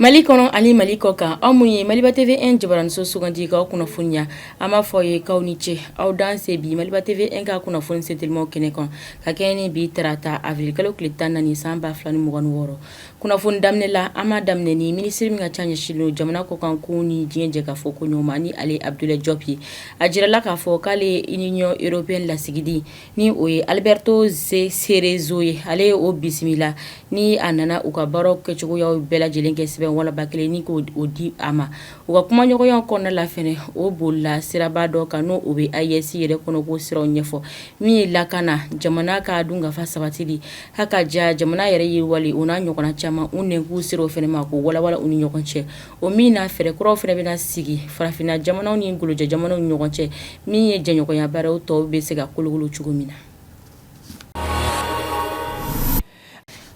Mali kɔnɔ ani mali kɔ kan aw minnu ye Maliba TV 1 jabaraninso sugandi k'aw kunnafoniya an b'a fɔ aw ye k'aw ni ce aw danse bi Maliba TV 1 ka kunnafoni sentelimaw kɛnɛ kan ka kɛɲɛ ni bi tarata avril kalo tile tan ni naani san ba fila ni mugan ni wɔɔrɔ Kunnafoni daminɛ la an b'a daminɛ ni minisiri min ka ca ɲɛsinnen don jamana kɔkan kow ni diɲɛ jɛkafɔ koɲɛw ma ni ale Abdoulaye Diop ye a jirala k'a fɔ k'ale ye Union Européenne lasigiden ni o ye Alberto Cerezo ye ale ye o bisimila ni a nana u ka baaraw kɛcogoyaw bɛɛ lajɛlen kɛ sɛbɛn walanba kelen ni k'o di a ma U ka kumaɲɔgɔnya kɔnɔna la fɛnɛ o bolila siraba dɔ kan n'o o bɛ AES yɛrɛ kɔnɔko siraw ɲɛfɔ min ye lakana jamana ka dunkafa sabatili haka ja jamana yɛrɛ yiriwali o n'a ɲɔgɔnna caman u nɛnkun sera o fɛnɛ ma k'o walawala u ni ɲɔgɔn cɛ o min na fɛɛrɛ kuraw fɛnɛ bɛna sigi farafinna jamanaw ni golojɛ jamanaw ni ɲɔgɔn cɛ min ye jɛɲɔgɔnya baaraw tɔw bɛ se ka kolokolo cogo min na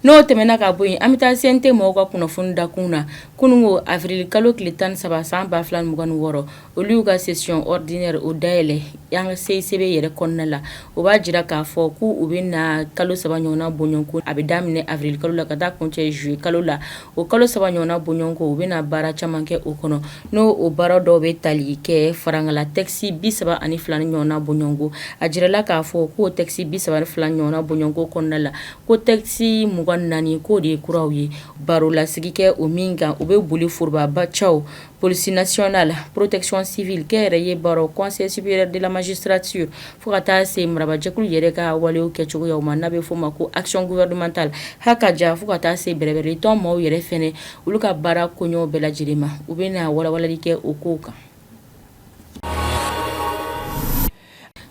N'o tɛmɛna ka bɔ yen an bɛ taa CNT mɔgɔw ka kunnafoni dakun na kununko avril kalo tile tan ni saba san ba fila ni mugan ni wɔɔrɔ olu y'u ka session ordinaire o dayɛlɛ yan ka CICB yɛrɛ kɔnɔna la o b'a jira k'a fɔ ko u bɛ na kalo saba ɲɔgɔnna bɔɲɔgɔnko a bɛ daminɛ avril kalo la ka taa kuncɛ juillet kalo la o kalo saba ɲɔgɔnna bɔɲɔgɔnko u bɛna baara caman kɛ o kɔnɔ n'o baara dɔw bɛ tali kɛ farankala tɛkisi bi saba ani fila ɲɔgɔnna bɔɲɔgɔnko a jirala k'a fɔ k'o tɛkisi bi saba fila ɲɔgɔnna bɔɲɔgɔnko kɔnɔna la ko tɛkisi mugan ni naani k'o de ye kuraw ye barolasigi kɛ o min kan u bɛ boli forobaba caw Police nationale protection civile kɛ yɛrɛ ye baro conseil supérieur de la magistrature fo ka taa se marabajɛkulu yɛrɛ ka walew kɛcogoyaw ma n'a bɛ f'o ma ko action gouvernementale haka ja fo ka taa se bɛrɛbɛrɛlitɔn maaw yɛrɛ fɛnɛ olu ka baara koɲɛw bɛɛ lajɛlen ma u bɛna walawalali kɛ o kow kan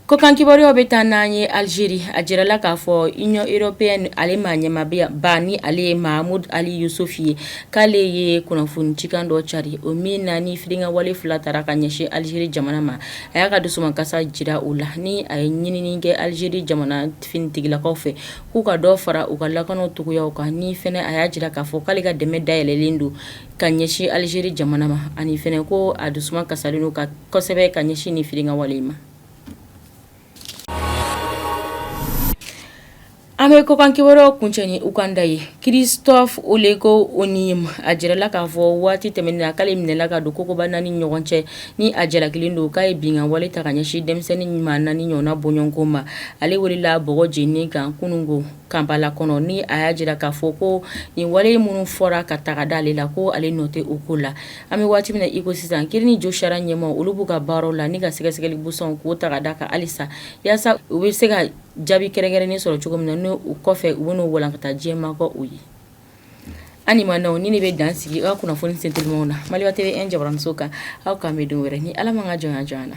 Kokan kibaruyaw bɛ taa n'an ye alizeri a jirala k'a fɔ Union Européenne ale maa ɲɛmaaba ni ale ye Mahmoud Ali Youssouf ye k'ale ye kunnafoni cikan dɔ cari o min na ni firinkan wale fila taara ka ɲɛsin alizeri jamana ma a y'a ka dusukasa jira o la ni a ye ɲinini kɛ alizeri jamana finitigilakaw fɛ k'u ka dɔ fara u ka lakana cogoyaw kan ni fɛnɛ a y'a jira k'a fɔ k'ale ka dɛmɛ dayɛlɛlen don ka ɲɛsin alizeri jamana ma ani fɛnɛ ko a dusu kasa ka kosɛbɛ ka ɲɛsin ni firinkan wale ma an bɛ kokan kibaruyaw kuncɛ ni Uganda ye Christophe Oleko Onim a jirala k'a fɔ waati tɛmɛnen na k'ale minɛla ka don kogoba naani ɲɔgɔn cɛ ni a jalakilen don k'a ye binkan wale ta ka ɲɛsin denmisɛnnin ɲuman naani ɲɔgɔnna bɔɲɔgɔnko ma ale welela bɔgɔ jeninen kan kununko Kampala kɔnɔ ni a y'a jira k'a fɔ ko nin wale minnu fɔra ka taga da ale la ko ale nɔ tɛ o kow la An bɛ waati min na iko sisan kiiri ni josariya ɲɛmaaw olu b'u ka baaraw la ni ka sɛgɛsɛgɛli busanw k'o ta da kan halisa yaasa u bɛ se ka jaabi kɛrɛnkɛrɛnnen sɔrɔ cogo min na n' u kɔfɛ u bɛn'o walankata diɲɛ mɔgɔw ye an ma na nin de bɛ dan sigi aw kunnafoni sentelimaw na Maliba TV jabaranso kan aw k'an bɛn don wɛrɛ ni ala ma ka jɔn jɔn na